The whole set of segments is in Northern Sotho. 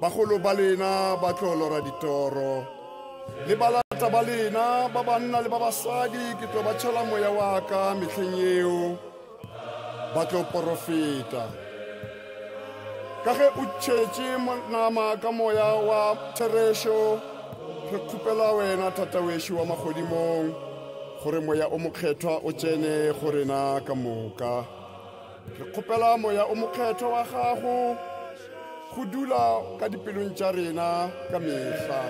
Bagolo ba lena ba tlo lora ditoro, le balata ba lena ba banna le ba basadi ke tlo ba tšhela moya wa ka mehleng yeo, ba tlo porofeta. Ka ge o tšhetše nama ka moya wa therešo, re kgopela wena Tata wešo wa magodimong gore moya o mokgethwa o tsene go rena ka moka. Re kgopela Moya o Mokgethwa wa Gago go dula ka dipelong tša rena ka mehla.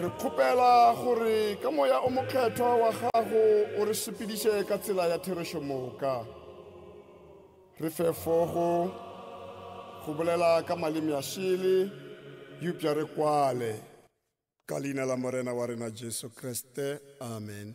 Re kgopela gore ka Moya o Mokgethwa wa Gago o re sepediše ka tsela ya therešo moka. Re fe fogo go bolela ka maleme a šele, eupša re kwale. Ka leina la Morena wa rena Jesu Kriste, amen.